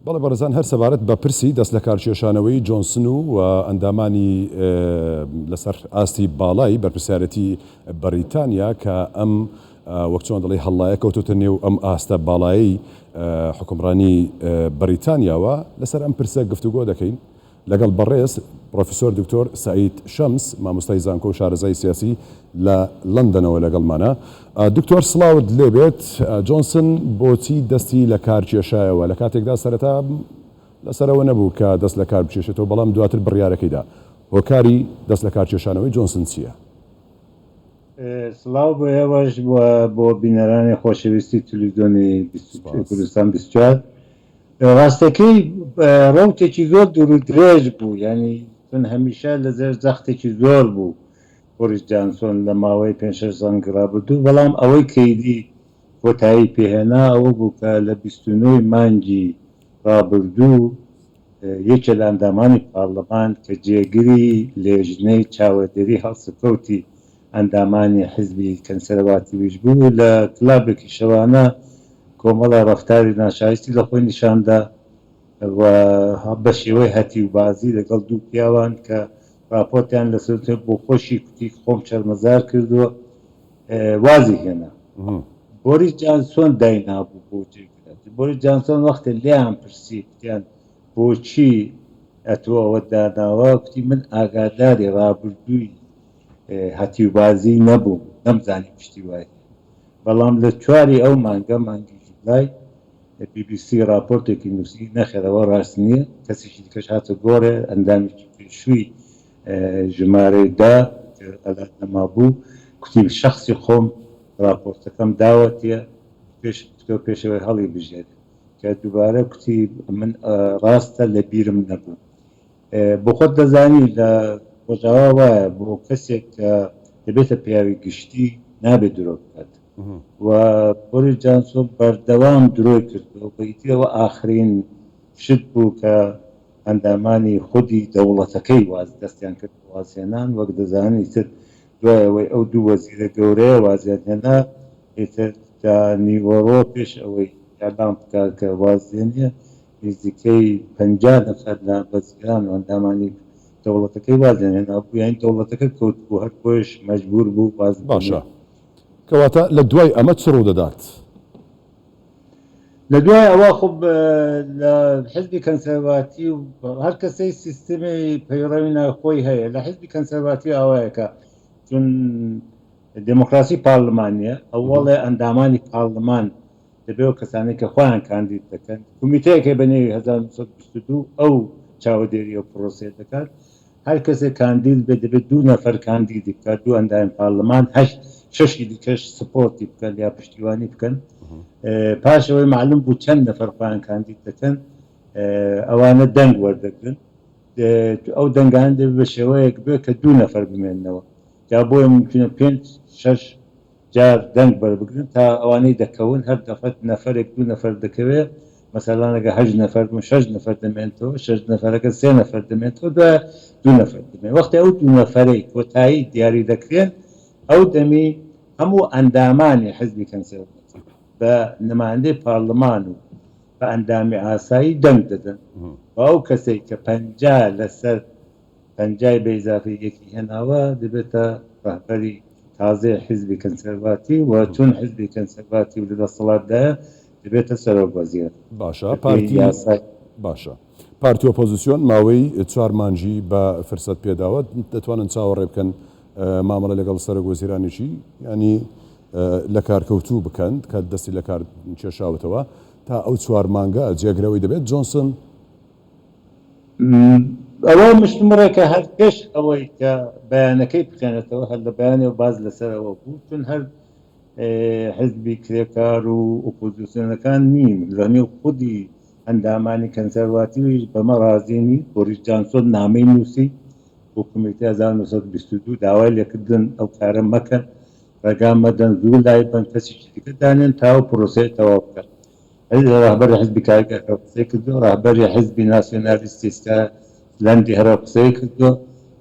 بەڵێ بەڕێزان هەر سەبارەت بە پرسی دەستلەکارکێشانەوەی جۆنسن و ئەندامانی لەسەر ئاستی باڵای بەرپرسیارەتی بەڕیتانیا کە ئەم وەک چۆن دەڵی هەڵڵایە کەوتۆتە نێو ئەم ئاستە باڵایی حکومڕانی بەڕیتانیاوە لەسەر ئەم پرسە گفتوگۆ دەکەین لەگەڵ بەڕێز پڕۆفیسۆر دکتۆر سەعید شەمس مامۆستای زانکۆ و شارەزای سیاسی لە لەندەنەوە لەگەڵمانە. دکتۆر سڵاوت لێبێت، جۆنسن بۆچی دەستی لە کار کێشایەوە، لە کاتێکدا سەرەتا لەسەرەوە نەبوو کە دەست لە کار بکێشێتەوە، بەڵام دواتر بڕیارەکەی دا. هۆکاری دەست لە کار کێشانەوەی جۆنسن چییە؟ سڵاو بۆ ئێوەش و بۆ بینەرانی خۆشەویستی تلویزیۆنی کوردستان بیست و چوار. ڕاستەکەی ڕەوتێکی زۆر دوور و درێژ بوو یانی چون هەمیشە لە زێر زەختێکی زۆر بوو بۆریس جانسۆن لە ماوەی پێنج شەش زەنگی ڕابردوو بەڵام ئەوەی کەیدی کۆتایی پێ هێنا ئەوە بوو کە لە بیست و نۆ ی مانگی ڕابردوو یەکێ لە ئەندامانی پارلمان کە جێگری لێژنەی چاوەدێری هەڵسوکەوتی ئەندامانی حیزبی کەنسەرەواتیویش بوو و لە کلابێکی شەوانە کۆمەڵە ڕەفتاری ناشایستی لە خۆی نیشان دا و بە شێوەی هەتیوبازی لەگەڵ دوو پیاوان کە ڕاپۆرتیان لەسەر کرد بۆ خۆشی کوتی خۆم شەرمەزار کردووە وازی هێنا. بۆریس جانسۆن دای نابوو بۆ جێی بنێت. بۆریس جانسۆن وەختێ لێیان پرسی کوتیان بۆچی ئەتۆ ئەوەت داناوە کوتی من ئاگاداری ڕابردووی هەتیوبازی نەبووم نەمزانی پشتی وای هەیە بەڵام لە چوار ی ئەو مانگە مانگی جولای بی بی سی ڕاپۆرتێکی نووسی نەخێر ئەوە ڕاست نییە کەسێکی دیکەش هاتە گۆڕێ ئەندامێکی پێشووی ژمارەی دە ئەلات نەمابوو کوتی شەخسی خۆم ڕاپۆرتەکەم داوەتێ پێش تۆ پێش ئەوەی هەڵی بژێرێ کە دووبارە کوتی من ڕاستە لە بیرم نەبوو. بۆخۆت دەزانی لە ڕۆژاوا وایە بۆ کەسێک کە دەبێتە پیاوی گشتی نابێت درۆ بکات و بۆریس جانسۆ بەردەوام درۆی کردووە و ئیتر ئەوە ئاخرین شت بوو کە ئەندامانی خودی دەوڵەتەکەی واز دەستیان کرد بە وازهێنان وەک دەزانن ئیتر دوای ئەوەی ئەو دوو وەزیرە گەورەیە وازیان هێنا ئیتر تا نیوەڕۆ پێش ئەوەی ئیعلام بکات کە واز دێنێ نزیکەی پەنجا نەفەر لە بەزگان و ئەندامانی دەوڵەتەکەی وازیان هێنابوو، یانی دەوڵەتەکە کەوتبوو، هەر بۆیەش مەجبوور بوو واز باشە، بهێنێت. کەواتە لە دوای ئەمە چ ڕوو دەدات؟ لە دوای ئەوە خۆ لە حیزبی کەنسەرڤاتیو هەر کەسەی سیستمی پەیڕەوی ناوی خۆی هەیە، لە حیزبی کەنسەرڤاتیو ئاوایە کە چون دێمۆکڕاسی پارڵمانییە، ئەوەڵێ ئەندامانی پارڵمان، دەبێ ئەو کەسانەی کە خۆیان کاندید دەکەن، کومیتەیەکێ بە نێوی هەزار و نۆ سەد و بیست و دوو ئەو چاوەدێری ئەو پرۆسەیە دەکات. هەر کەسێ کاندید بێ دەبێ دوو نەفەر کاندیدی بکات، دوو ئەندامی پارلمان، هەشت شەشی دیکەش سپۆرتی بکەن یا پشتیوانی بکەن. پاش ئەوەی مەعلوم بوو چەند نەفەر خۆیان کاندید دەکەن، ئەوانە دەنگ وەردەگرن. ئەو دەنگانە دەبێ بە شێوەیەک بێ کە دوو نەفەر بمێننەوە. جا بۆیە مومکینە پێنج شەش. جار دەنگ بەربگرن تا ئەوانەی دەکەون هەر دەفەت نەفەرێک دوو نەفەر دەکەوێ مەسەلان ئەگەر هەشت نەفەر بوون شەش نەفەر دەمێنتەوە شەش نەفەرەکە سێ نەفەر دەمێنتەوە دوای دوو نەفەر دەمێن وەختی ئەو دوو نەفەرەی کۆتایی دیاری دەکرێن ئەو دەمی هەموو ئەندامانی حزبی کەنسێرڤەتی بە نمایندەی پارلمان و بە ئەندامی ئاسایی دەنگ دەدەن بە ئەو کەسەی کە پەنجا لەسەر پەنجای بە ئیزافەی یەکی هێناوە دەبێتە ڕەهبەری تازەی حیزبی کەنسەرڤاتیو و چون حیزبی کەنسەرڤاتیو لە دەسەڵاتدایە دەبێتە سەرۆک وەزیر باشە بەپێی پارتی یاسای باشە پارتی ئۆپۆزسیۆن ماوەی چوار مانجی بە فرسەت پێداوە دەتوانن چاوەڕێ بکەن مامەڵە لەگەڵ سەرۆک وەزیرانێکی یانی لە کارکەوتوو بکەن کە دەستی لە کار کێشاوتەوە تا ئەو چوار مانگە جێگرەوەی دەبێت جۆنسن ئەوە مشتومڕە کە هەر پێش ئەوەی کە بەیانەکەی بخێنێتەوە هەر لە بەیانەوە باس لەسەر ئەوە بوو چون هەر حزبی کرێکار و ئۆپۆزیسیۆنەکان نین لە نێو خودی ئەندامانی کەنسەرواتیویش بەمە ڕازی نین بۆریس جانسۆن نامەی نووسی بۆ کمیتی 1922 داوای لێکردن ئەو کارە مەکەن ڕێگا مەدەن زوو لای بەن کەسیشی دیکە دانێن تاوە پرۆسەیە تەواو بکەن ڕەهبەری حیزبی کارگەر هەرو قسەی کردوە ڕەهبەری حیزبی ناسیۆنالیستی سکاتلەندی هەرو قسەی کردوە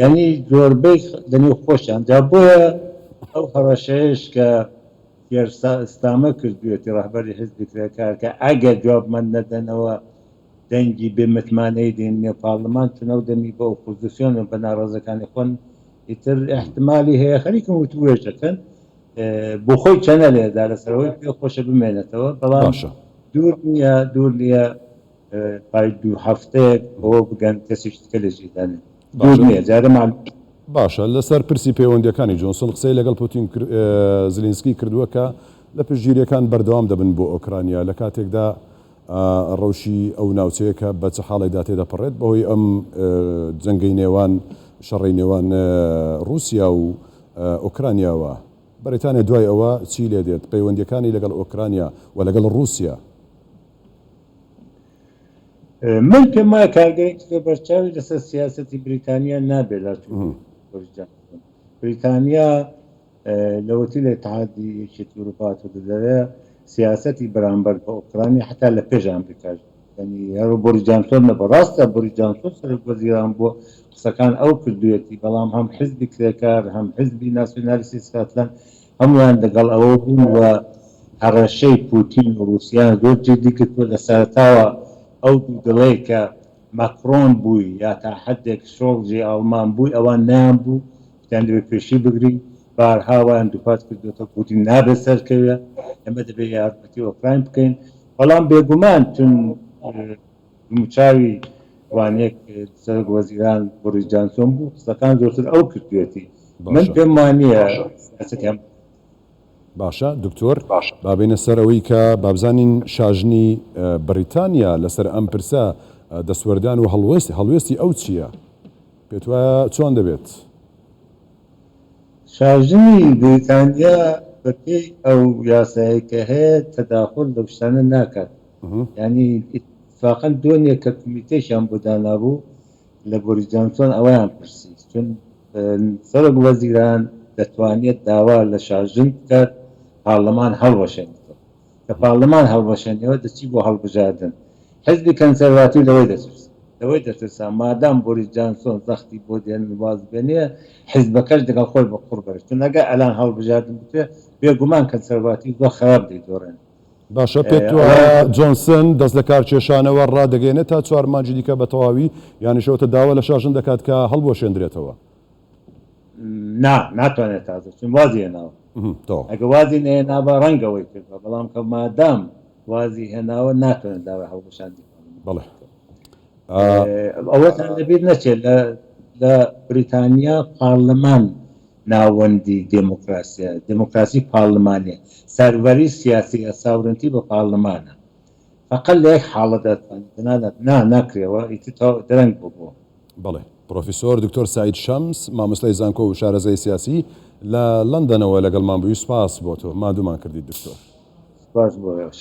یانی زۆربەی لە نێو خۆشیان جا بۆیە ئەو هەڕەشەیەش کە کێر سا ستامەر کردویەتی ڕەهبەری حیزبی کرێکار کە ئەگەر جوابمان نەدەنەوە دەنگی بێ متمانەیی دەین نێو پارلمان چون ئەو دەمی بە ئۆپۆزسیۆن و بە ناڕەزەکانی خۆن ئیتر ئیحتمالی هەیە خەریکن وتووێژ ئەکەن بۆخۆی چەنەلێ دا لەسەرەوەی پێ خۆشە بمێنێتەوە بەڵام باشە دوور نییە دوور نییە پای دوو هەفتەیەک بەوە بگەن کەسیش تکە لە جیدانێ دوور باشە نییە جارە مال باشە لەسەر پرسی پەیوەندیەکانی جۆنسن قسەی لەگەڵ پوتین کر- ئێ، زلینسکی کردووە کە لە پشتگیریەکان بەردەوام دەبن بۆ ئۆکرانیا لە کاتێکدا ڕەوشی ئەو ناوچەیە کە بە چ حاڵێکدا تێدەپەڕێت بەهۆی ئەم جەنگەی نێوان شەڕی نێوان ڕووسیا و ئۆکرانیاوە؟ بەریتانیا دوای ئەوە چی لێ دێت؟ پەیوەندییەکانی لەگەڵ ئۆکرانیا و لەگەڵ ڕووسیا؟ من پێم وایە کارگەیەکی زۆر بەرچاوی لەسەر سیاسەتی بریتانیا نابێت لە چوونی بۆریس جانسۆن. بریتانیا. لە وەتی لە ئیتحادی یەکێتی ئوروپا هاتۆتە دەرێ سیاسەتی بەرامبەر بە ئۆکرانیا حەتا لە پێش ئامریکاش یانی هەرو بۆری جانسۆن نەبە ڕاستە بۆری جانسۆن سەرۆک وەزیران بووە قسەکان ئەو کردوێتی بەڵام هەم حزبی کرێکار هەم حزبی ناسیۆنالیستی سکاتلەند هەمویان دەگەڵ ئەوە بوون و هەڕەشەی پوتین و ڕوسیان زۆر جدی گرتووە لە سەرەتاوە ئەو دوو دڵەی کە ماکرۆن بووی یا تا حەدێک شۆڵجی ئاڵمان بووی ئەوان نەیان بوو یان دەبێت پێشی بگرین، بارها وایان دووپات کردووەتەوە کە پوتین نابێت سەرکەوێت، ئێمە دەبێت یارمەتی ئۆکراین بکەین، بەڵام بێگومان چون دموچاوی وانەیەک سەرۆک وەزیران بۆریس جانسۆن بوو، قسەکان زۆرتر ئەو کردوویەتی، من پێم وانییە سیاسەتی هەم. باشە دکتۆر، با بێینە سەر ئەوەی کە با بزانین شاژنی بریتانیا لەسەر ئەم پرسە دەستوەردان و هەڵوێستی ئەو چییە؟ پێتوایە چۆن دەبێت؟ شاژنی بریتانیا بەپێی ئەو یاسایەی کە هەیە تەداخول لەو شتانە ناکات یانی ئیتفاقەن دۆنێک کە کومیتەیشیان بۆ دانابوو لە بۆریس جانسۆن ئەوەیان پرسی چون سەرۆک وەزیران دەتوانێت داوا لە شاژن بکات پارلەمان هەڵوەشێنێتەوە کە پارڵمان هەڵوەشێنەوە دەچی بۆ هەڵبژاردن، حیزبی کەنسەرواتیو لەوەی دەترسن، لەوەی دەترسان مادام بۆریس جانسۆن زەختی بۆ دێنن واز بێنێ، حیزبەکەش دەگەڵ خۆی بە قوڕ بەرێ، چون ئەگەر ئەلان هەڵبژاردن بکرێ، بێ گومان کەنسەرواتیو زۆر خەراپ دەیدۆڕێن. باشە پێت وایە ئەوە. جۆنسن دەست لە کار کێشانەوە ڕا دەگەیەنێ تا چوار مانگی دیکە بە تەواوی یانەشەوەتە داوا لە شاژن دەکات کە هەڵبوەشێندرێتەوە؟ نا ناتوانێت تازە چون وازی هێناوە تۆ ئەگە وازی نێنابا ڕەنگەوەی کردوە بەڵام کە مادام وازی هێناوە ناتوانێت داوای هەڵبژاندی بەڵێ ئەوەتان لەبیر نەچێت لە لە بریتانیا پارلمان ناوەندی دموکراسیە دموکراسی پارلمانێ سەروەری سیاسی ئەساورنتی بە پارلمانە فەقەت لە یەک حاڵەتدا دەتوانین تەنانەت نا ناکرێەوە ئیتر تەواو درەنگ بوو بۆ. بەڵێ. پرۆفیسۆر دکتۆر سەعید شەمس، مامۆستای زانکۆ و شارەزای سیاسی، لە لەندەنەوە لەگەڵمان بووی، سوپاس بۆ تۆ ماندوومان کردیت دکتۆر. سوپاس بۆ ئێوەش.